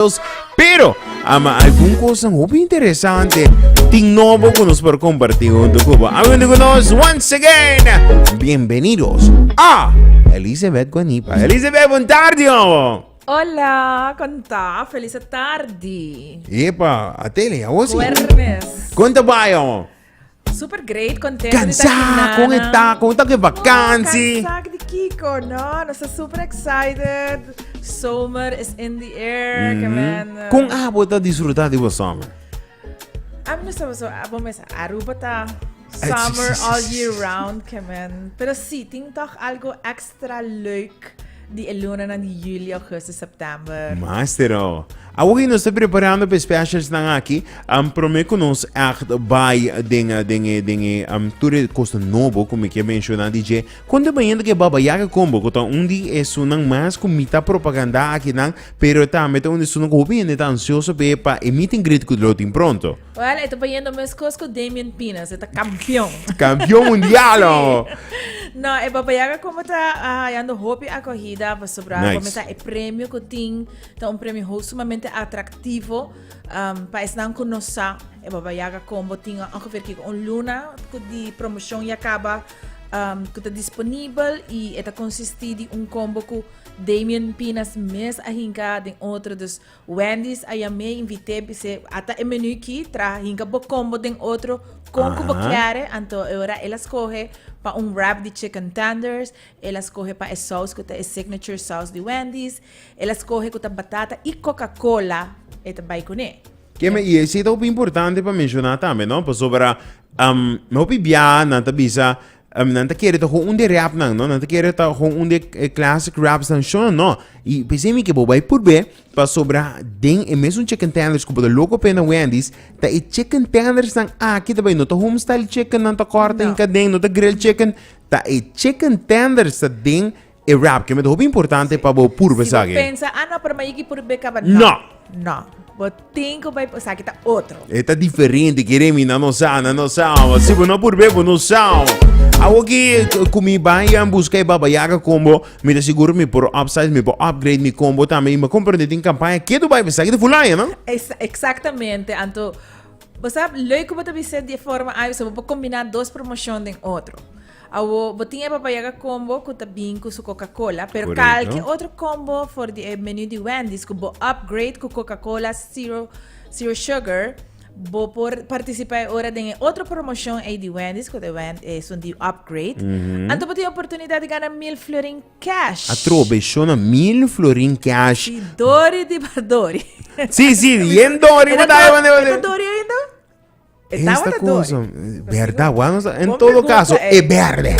Dios. Pero, ama algun kosan hopi interesante tin nobo ku nos por komparti huntu ku bo. Habiendo ku nos once again, bienvenidos a Elizabeth Guanipa. Elizabeth, buen tarde, homo. Hola, konta, feliz tarde. Epa, atele, a osi. Juernes. Konta bayo. Super great, contento Cansá con e ta, con ta que vakantie. Cansá di Kiko, no? Nos está super excited. Zomer is in the air. Mm -hmm. Con abo ta disfrutar de zomer? A mí no sabe zo, abo mesa. Aruba ta summer all year round, que men. Pero sí, ting toch algo extra. extra leuk di e lunanan di Julio, Augustus, September. Mastero, awo ki nos ta preparando pa e specialsnan aki, um, prome cu nos echt bay den, den e, den e, um, tur e cosa nobo cu mi kier menciona di dje, con ta bayendo cu e Baba Yaga Combo, cu ta un di esunnan mas cu mi ta propaganda akinan, pero tambe ta un di esunnan cu hopi hende ta ansioso pa e, pa e meet and greet cu lo tin pronto. Well, e ta bayendo mescos cu Damien Pinas. E ta campeon. Campeon mundial, oh. no, e Baba Yaga como ta hayando ah, hopi acogida pasobra nice. como ta e premio cu tin, ta un premio ho sumamente atractivo um, pa esnan cu no sa e Baba Yaga combo tin ongeveer kiko un luna cu di promotion ya caba um, cu ta disponibel y e ta consisti di un combo cu Damien Pinas mes a hinca den otro, dus Wendy's a yam'é i invit'é bis'é, a ta e menú ki, traha hinka bo combo den otro kon ku bo kere, anto e ora el a skohe pa un wrap di chicken tenders, el a skohe pa e sous ku ta e signature sous di Wendy's, el a skohe ku ta batata i Coca-Cola e ta bai kuné. Keme, i esei ta hopi importante pa menshoná tambe, no? Pasobra hopi biaha nan ta bisa, Um, nan ta kere ta gewoon un de rap nan, no? Nan ta kere ta gewoon un de eh, classic raps nan show, no? Y pensé mi que boba y purbe, pa sobra den e mes un chicken tenders como de loco pena Wendy's, ta e chicken tenders nan aquí ta bay, no ta home style chicken nan ta corta No. en caden, no ta grill chicken, ta e chicken tenders ta den E rapke met hopi importante pa bo purba esaki. Si bo pensa, ah no, pero mayiki purba e kaba. No. No. Bo tin ku bai esaki ta otro. E ta diferente, kere mi nan no sa, nan no sa. Si bo no purba e bo no sa. Awo ki ku mi bai a buska e Baba Yaga kon bo, mi ta sigur mi por upsize, mi por upgrade mi combo tambe. I mi a komprende tin kampaña ke do bai pa esaki ta fulai, no? Eksaktamente. Anto bo sa lei ku bo ta bisa di e forma ai, bo por kombiná dos promoshon den otro. Awo bo tin e Baba Yaga Combo cu ta bin cu su Coca-Cola, pero cal ki otro combo for di e menu di Wendy's cu bo upgrade cu Coca-Cola Zero Zero Sugar, bo por participa e ora den e otro promocion ey di Wendy's cu ta esun di upgrade. Anto bo tin oportunidad di gana mil florin cash. Atrobe shona mil florin cash. Si Dori di Dori. Si si yen Dori bo ta. E ta Dori ainda? E tabata dor. Berda, wan nos en todo caso e berde.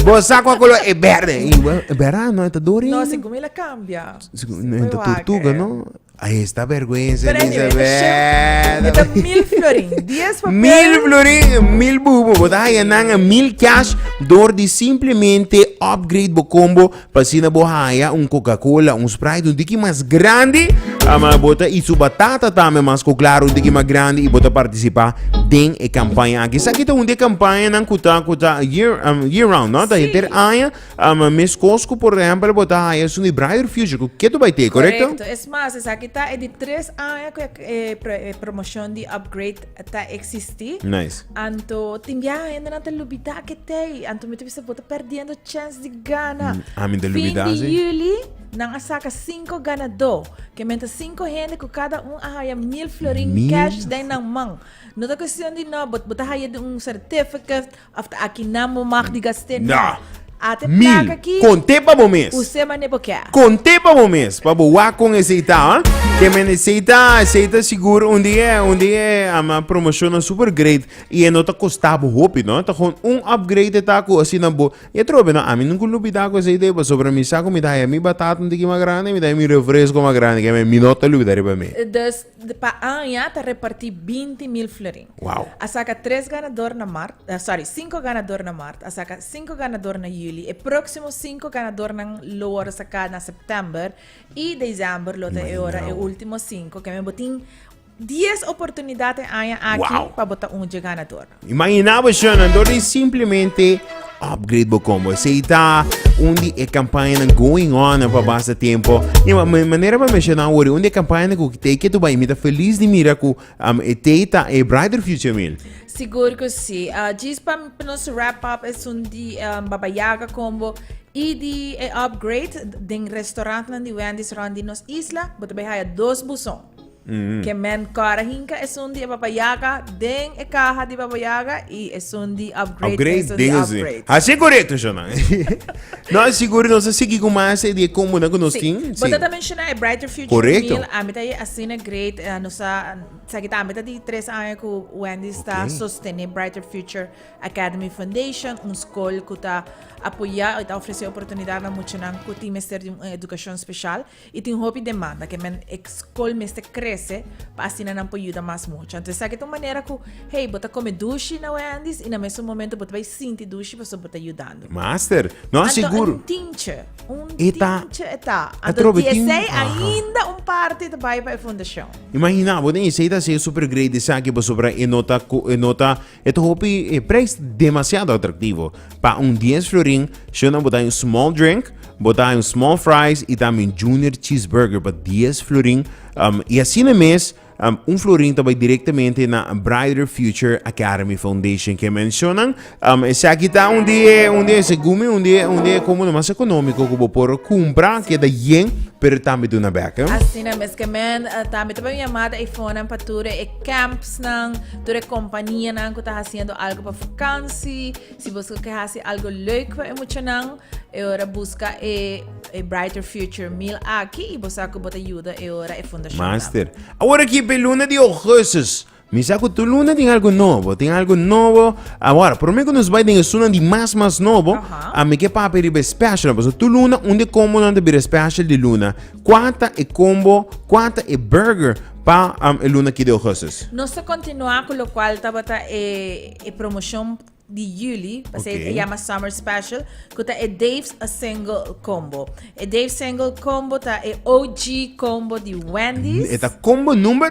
Bo sa kwa color e berde. I berda no eta dori. No, si gumi la cambia. No eta tortuga, no? Ahí está vergüenza, Elizabeth. Eta mil florin, diez papel. Mil florin, mil bubu. Bota ya nanga mil cash door di simplemente upgrade bo combo Pa asina bo haya un Coca Cola, un Sprite, un tiki mas grandi, ama bo ta eat su batata tambe mas cu claro, un tiki mas grandi y bo ta participa den e campaña aki. Esaki ta un di e campañanan cu ta cu ta year am year round, no? Ta henter aña, am mescos cu por ehempel bo ta haya esun di Brighter Future cu ketu bay te, corecto? Correcto, es mas esaki ta e di tres aña cu e e e promotion di upgrade. ta existi. Nice. Anto tin biaha hendenan ta lubida ke tei. Anto mi ta bisa bo ta perdiendo chance di gana. Mm, a mi ta lubida, Fin di sí. juli nan a saca cinco ganadó. Ke men ta cinco hende ku kada un a haya mil florin Mil cash den nan man. No ta cuestion di no, bo, bo ta haya di un certificate After aki nan bo mag di gast'é no. Na. A te Mil. plaka aki. Kont'é pa bo mes. Us'é man'é bo kè. Kont'é pa bo mes pa bo wak kon e seita. Ke men e seita, e seita sigur un di e, un di e ama promoshonnan super great i e no ta kosta bo hopi no. Ta kon un upgrade e ta ku asina bo, i e trobe no, ami nunku lo bida ku e seita ei pasobra mi sa ku mi ta haya mi batata un tiki mas grandi, mi ta haya mi refresco mas grandi, ke men mi no ta lo bida riba mi. Dus Pa aña ta repartí binti mil florin. A saka tres ganador na mart, sòri, sinku ganador na mart, a saka sinku ganador na yuli, e próksimo sinku ganadornan lo wòrdu saká na sèptèmber i desèmber, lo ta e ora e último sinku. Kèn bo tin dies oportunidat e aña aki pa bo ta un dje ganador. Imagina bo Shannon, door di simplemente upgrade bo combo. Sei ta un di e campaña nan going on pa basta tempo. Ja, ma ma- manera pa mencionar hoor, un di e campaña nan ku te ke tu bai mita feliz di mira ku um, e te ta e brighter future mil. Sigur ku si. Ah, djis pa pa nos wrap up esun di em, Baba Yaga combo i di e upgrade den restaurantnan di Wendy's rond di nos isla, bo ta bay haya dos buson. Ke men kòrda hinka esun di e Baba Yaga den e kaha di Baba Yaga i esun di Upgrade esun di Upgrade. Hasi e korekto shò nan. Nos sigur nos a sigui ku mas di e kombo nan ku nos tin. Si. Bo ta ta menshoná e Brighter Future Meal, ami ta e asina great. Nos a esaki ta ami ta di tres aña ku Wendy's ta sostené Brighter Future Academy Foundation, un skol ku ta apoyá i ta ofresé oportunidatnan muchanan ku tin mester di un edukashon speshal. I tin hopi demanda ke men e skol mester krese pa asina nan por yuda mas mucha. Anto esaki ta un manera ku hey bo ta kome dushi na Wendy's i na mesun momento bo ta bai sinti dushi pasobra bo ta yudando. Master, no a Anto sigur. un tinche, un E ta- tinche e ta. a Anto trobe tin- diesei aha. ainda un parti ta bai pa e fundashon. Imagina, bo den esei ta haciendo super great esaki pasobra e no ta co- e no ta E ta hopi e prijs demasiado atraktivo. Pa un dies florin, shona bo ta hay un small drink, bo ta hay un small fries y tambe un junior cheeseburger pa dies florin. Um, y asina mes, um, un florin ta bay directamente na Brighter Future Academy Foundation. Ke mencionan, um, esaki ta un di e, un di e, segun mi, un di e, un di e combo mas economico cu bo por cumpra, keda yen, pero tambe duna bek. Asina mes, ke men, uh, tambe ta bay un yamada eifonan pa tur e camps nan, Tur e kompanianan ku ta hasiendo algu pa vakansi, si boso ke hasi algu leuk pa e muchanan, e ora buska e e Brighter Future mil aki i bo sa ku bo ta yuda e ora e fundashon tabata. Master, awor aki pa e luna di ougustus, mi sa ku tur luna tin algu nobo, tin algu nobo. Awor, promé ku nos bai den esunnan di mas mas nobo, Aha. ami ke papia riba e special, pasobra tur luna un di e kombonan ta bira special di luna. Kua ta e combo, kua ta e burger pa um e luna ki di augustus? Nos ta continua cu locual tabata e e promocion di juli, pasey ta yama summer special, cu ta e Dave's a single combo. E Dave's single combo ta e OG combo di Wendy's. E ta combo number?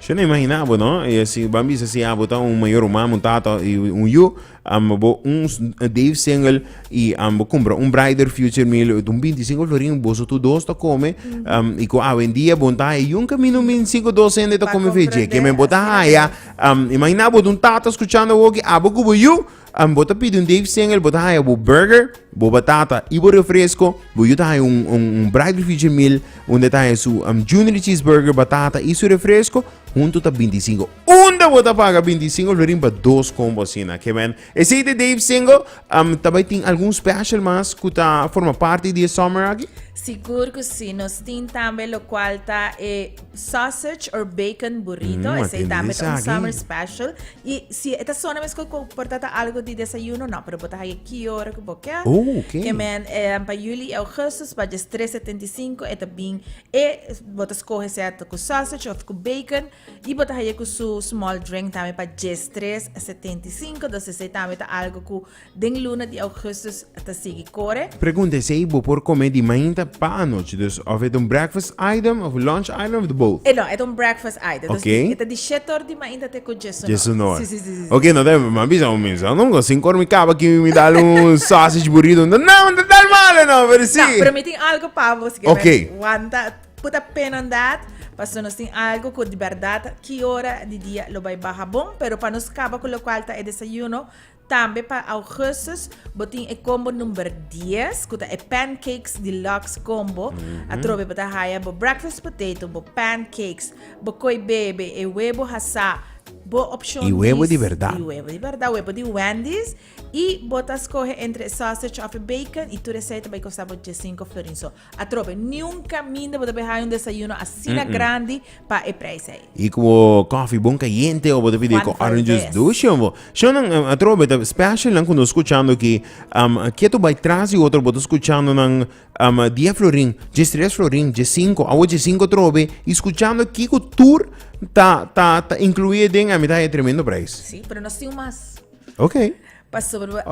Shon a imagina bo no e si ban bisa si abo ta un mayor human un tata y un yu am bo un Dave single y am bo cumpra un brighter future mi lo un binti singco florin boso tu dos ta come am y cu awendia bon ta haya un camino min cinco dos hende ta come veggie que me bo ta haya am imagina bo un tata escuchando awoki abo cubo yu Um, bo ta pidi un Dave Single, bo ta haya bo burger, bo batata y bo refresco, bo yo ta haya un, un, un braai grifietje meal, unda ta haya su um, junior cheeseburger, batata y su refresco, hunto ta 25. Unda bo ta paga 25 florin pa dos combo asina, que men. Ese de Dave Single, um, tabay tin algun special mas cu ta forma parte di e summer aki? Sigur cu si, nos tin tambe locual ta e. Sausage or bacon burrito, Mm, a esei tin tambe ris ta un aki. summer special. Y si e ta sona mesco cu por ta ta algo di desayuno, no, pero bo ta haya ki ora cu bo kier. Oh, ok. Ke men, eh, pa juli y augustus, pa djes 3 setenta y cinco, e ta bin e, bo ta scoge sea ta cu sausage of cu bacon, y bo ta haya cu su small drink tambe pa djes 3 setenta y cinco, dus esei tambe ta algo cu Den luna di augustus ta sigui kore. Pregunta, Esei bo por kome di mainta pa anochi, dus òf e ta un breakfast item òf lunch item òf di both? E no, e ta un breakfast item. Dus Okay. e ta di shete or di mainta te ku djesunor. Djesunor. Si, si, si, si. Ok, no ta mi a bisa un mes anto, because sin kor mi kaba aki mi dal un sausage burrito. No, no ta tal malo no, pero si. Ta, pero mi tin algo pa bo si ke Okay. mester wanta, put a pin on that, paso nos tin algo ku di bèrdat ki ora di dia lo bai baha bon, pero pa nos kaba ku lokual ta e desayuno, Tambe pa Augustus bo tin e combo number dies cu ta e Pancakes Deluxe Combo. Atrobe bo ta haya bo breakfast potato, bo pancakes, bo koi bebe, e webo hasá, bo opcion di. Y webo di verdad. Y webo di verdad, webo di Wendy's. Y bo ta scoge entre e sausage of e bacon y tur esai ta bay costa bo diescinco florin. So Atrobe, niun kaminda bo ta bin haña un desayuno asina grandi pa e preis ei. I ku bo kòfi bon kayente o bo ta pidi e ku Cuanto orange juice es? dushi o bo. Shownan em, atrobe ta special nan ku nos skuchando ki am ketu bai tras di otro bo ta skuchando nan am dia florin, dje stres florin, dje sinku, awo dje sinku trobe i skuchando kiko tur ta ta ta inkluí aden ami ta haña tremendo preis. Sí, pero nos tin un mas. Oke. Pasobra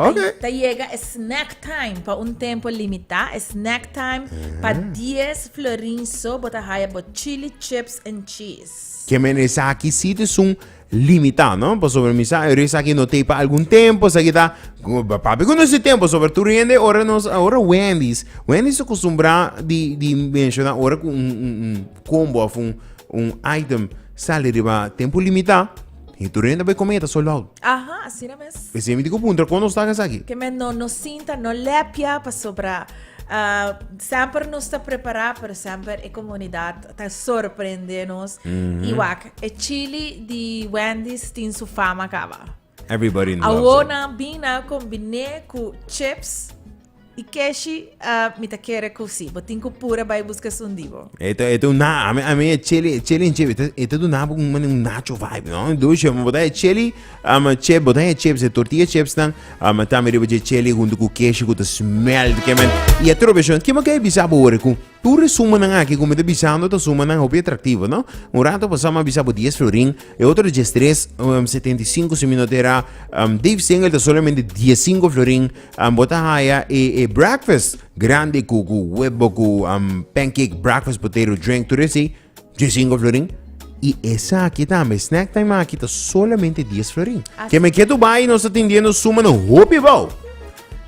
ta yega e snack time pa un tempo limitá. E snack time pa dies florin so bo ta haya bo chili chips en cheese. Ke men esaki sí ta esun limitá no? Pasobra mi sa esaki no ta ei pa algun tempo, esaki ta pape ku no si tempo pasobra tur hende ora nos ora Wendy's, Wendy's ta kostumbrá di di menshoná ora ku un un un kombo òf un un item sali riba tempo limitá. Y tur hende bay comida ta sold out. Aha, asina mes. Esemi di cu puntra con nos taga esaki. Ke men no no sinta, no lepia pasobra ah, semper nos ta prepara pero semper e comunidad ta sorprende nos. Y wak, e chili di Wendy's tin su fama caba. Everybody loves it. Awor nan bin a combine cu chips. Y keshi, ah, mi ta kere cu si. Bo tin cu pura bay busca esun di bo. E ta, e ta un na, a mi, a mi e cheli, e cheli en chep, e ta, e ta duna bo un mane un nacho vibe, no? Dushe, mi bota e cheli, um, chep, bota e chips, e tortilla chips nan, um, tambe riba dje cheli hunto cu keshi cu ta smelt, ke men. Y e trobe shon, kiman ke a bisa bo ora cu Tur e sumanan aki ku mi ta bisando ta sumanan hopi atraktivo, no? Un rato pasá mi a bisa bo dies florin, e otro di Jestres, um, setenta i sinku, si mi no ta era, um, Dave Singel ta solamente dies sinku florin, um, bo ta haya e, e breakfast grandi ku, ku webo, ku, um, pancake, breakfast, potero, drink, tur esei, Dje singo florin. I esaki tambe, snack time aki ta solamente dies florin. Así. Ke me ke tu bai nos ta tendiendo suma no hopi bou.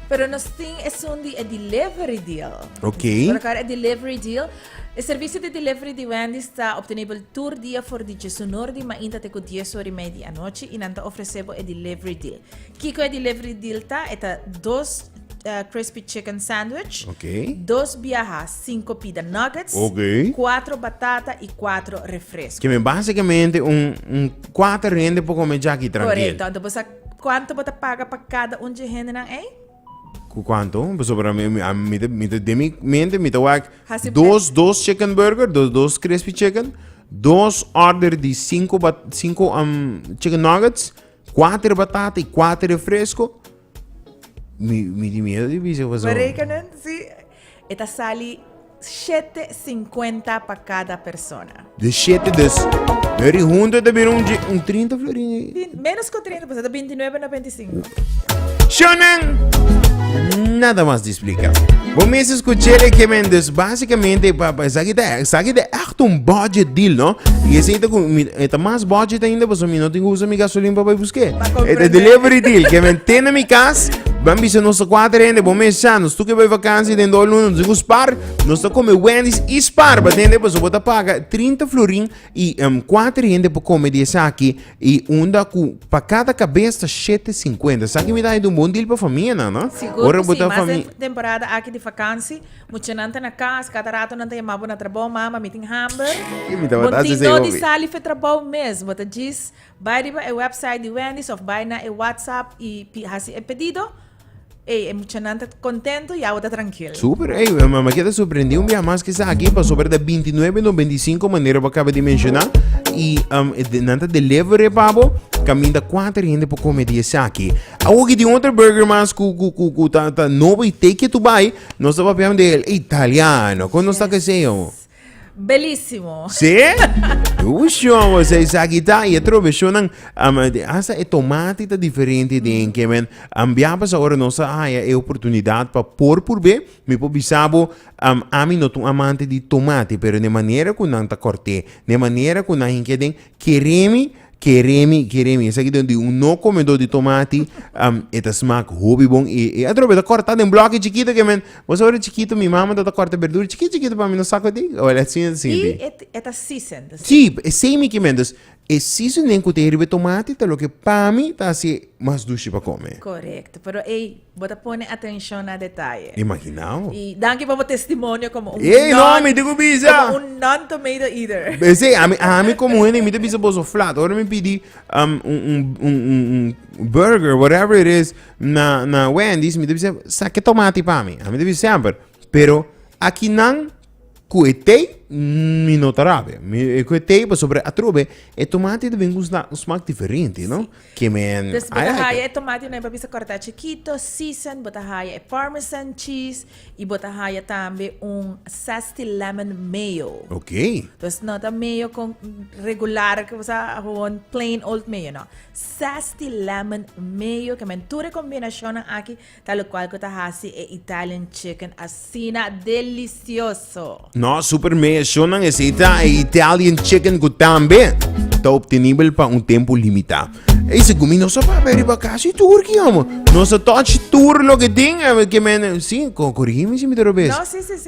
Pero nos tin esun di e delivery deal. Ok. Por akor e delivery deal, e servisio di delivery di Wendy's ta obtenibel tur dia for di djesunor di mainta te ku dies ora i mei di anochi i nan ta ofresé bo e delivery deal. Kiko e delivery deal ta? E ta dos eh, crispy chicken sandwich, Ok. dos biaha cinco pida nuggets, Ok. cuatro batata y cuatro refresco. Que me básicamente un, un cuatro rende por comer ya aquí tranquilo. Correcto. Entonces, vos sa- ¿cuánto vos te paga para cada un de gente nan ahí? Cu cuánto? Pues sobre mi, mi, a mi, te- mi, te- de mi mente, mi te wak Hasi- dos, dos chicken burger, dos, dos crispy chicken, dos order de cinco, bat, cinco um, chicken nuggets, cuatro batata y cuatro refresco. Mi mi tin miedo di bisa paso. Berekenen si e ta sali shete sinkuenta pa kada persona. Di shete dus eri huntu e ta bira un un trinta florin. Menos ku trinta paso ta bintinuebe na bentisinku. Shonnan nada mas. Explica. Bo mes escuché de Kemen, dus básicamente pa pa esaki te esaki de echt un budget deal, no? Y ese ita con mi eta más budget ainda, pues mi no tengo usa mi gasolina pa pa busque. Eta delivery deal, Kemen tena mi cas, van bisa nos cuatro hende, bo mes cha, nos tuke bay vakantie den do luna, nos tengo spar, nos ta come Wendy's y spar, pa tende pues bota paga 30 florin I um, kuater hende por kome di esaki, i unda ku pa kada kabes ta shete sinkuenta. Esaki mi ta hende un bon dil pa famia nan, no? Sigur Ora ku bo si, ta mas den fami- temporada aki di vakansi, muchanan ta na kas, kada rato nan ta yama bo na trabou, mama mi tin hamber. I mi tabata Bo hasi tin esei dor di hopi. sali fen trabou mes, bo ta djis bai riba e website di Wendy's of bai na e WhatsApp i pi hasi e pedido, Ey, e muchanan ta contento y awe ta trankil. Super, ey, eh, ma, ma keda sorprendí un biaha mas ki sa aki, pasobra ta 29 no 25 manera bo acaba di menciona, y um, eh, de- nan ta deliver e pa bo, caminda cuater hende por come di esaki. Awoki tin otro burger mas cu, cu, cu, cu ta, ta nobo y take it to buy, nos ta papiando de el italiano, con nos ta Yes. keseo? Belísimo. Sí? Ushon, was is agita y otro versionan um, hasta e tomate ta diferente den que men um, biabas ahora no sa haya e oportunidad pa por purbe mi por bisabo um, ami no tun amante di tomate pero ne manera cu nan ta corte ne manera cu nan hinke den Keremi, keremi, keremi. Esaki ta di un no komedó di tomati, am, e ta smak hopi bon i e atrobe bo ta kòrtá den blòkki chikitu ke men. Bo sa ora chikitu mi mama ta ta kòrta berdura chikitu chikitu pa mi no sakudi, wèl e asin e ta I sinti. e t- e ta season, ta Sí, season. esei mi kimen. Dus, e seasoning ku ta e riba e tomati ta loke pa mi ta hasié mas dushi pa kome. Korekto, pero ei Bo ta pone atencion na detaye. Imaginao. Y danki pa bo testimonio como un Ey, no, non, mi tin cu bisa. como un non-tomato eater. Besey, ami, ami como hende, mi te bisa boso flat. Ora mi pidi um, un, un, un, un, un burger, whatever it is, na, na Wendy's, mi te bisa, sa ke tomati pa mi? Ami te bisa semper. Pero, aki nan, ku e tei mi no ta rabia ku e tei pasobra atrobe e tomati ta bin ku un smak diferente no ke men i like it. tomati nan e por bisa kortá chikito season bo ta haya e parmesan cheese i bo ta haya tambe un zesty lemon mayo okay entonces no ta mayo kon regular ku bo sa gewoon plain old mayo no zesty lemon mayo ke men tur e kombinashonnan aki Talocual cu ta haci e Italian chicken asina delicioso. Nos supermercionan eseta e Italian chicken cu tambe ta obtenibel pa un tempo limita. Ey segun mi nos a papia riba casi tur ki omo. Nos a touch tur loke tin, a ver ke men, si, corigi mi si mi ta robes. No, si, si, si.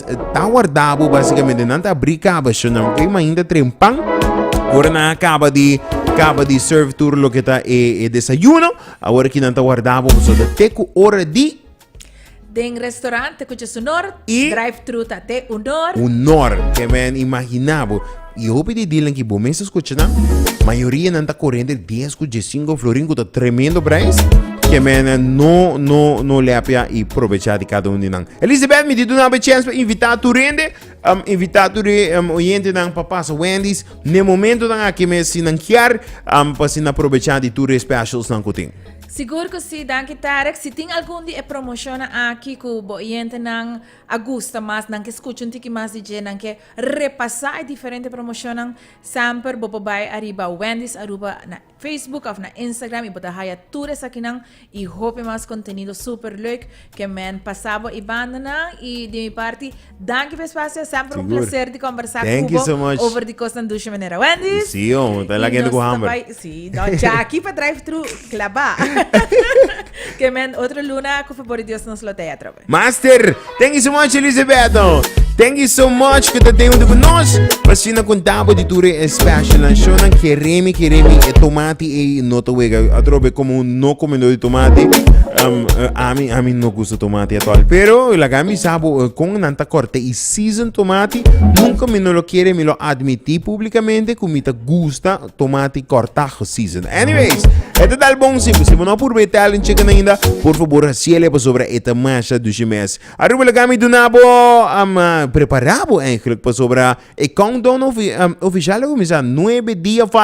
ta warda bo basikamente nan ta abrí kabashonnan oke ma ainda tren pan ora nan a kaba di kaba di serve tur loke ta e desayuno awor aki nan ta warda bo pasobra ta te ku ora di Den restaurante kucha su nor, drive thru ta te un nor. un nor te men imagina bo. I hopi di dealnan ki bo mes a skucha nan, mayoria nan ta kore entre dies ku diessinko florin ku ta tremendo prijs, ke men no no no lèpia i probecha di kada un di nan. Elisabeth mi di duna bo e chèns pa invitá tur hende, um invitá tur e um oyentenan pa pasa Wendy's n'e momentonan aki mes si nan kier, um pa si nan probecha di tur e specialsnan ku tin. Sigur ku si, danki Tarek. Si tin algun di e promoshonnan aki ku bo oyentenan a gusta mas, nan ke skucha un tiki mas di dje, nan ke Repasa e diferente promocionnan semper bo por bay ariba Wendy's Aruba na Facebook of na Instagram y bo ta haya tur esakinan y hopi mas contenido super leuk ke men pasa bo e bandanan y di mi parti danki pa espacio semper un placer di conversa cu bo over di cosnan dushi manera Wendy's y nos ta bay si nos ya aki pa drive thru claba ke men otro luna cu favor di Dios nos lo tea atrabe. Master, thank you so much Elisabeto. Thank you so much ku ta den unde ku nos. Pasina kontabo di tur e special nan show nan keremi keremi e tomati ei no ta wega. Atrobe komo un no komendor di tomati. Um, eh, ami ami no gusta tomati at all. Pero laga mi sabo eh, kon nan ta korte i season tomati. Nunca mi no lo kere mi lo admiti publikamente ku mi ta gusta tomate cortajo season. Anyways, este tal bon si si no purbe Italian chicken ainda, por favor hasiele pa sobra eta masha dushi mes. Aruba la gami dunabo um, uh, preparabo eigenlijk pa sobra e countdown ofi, um, oficial la comienza 9 dia falta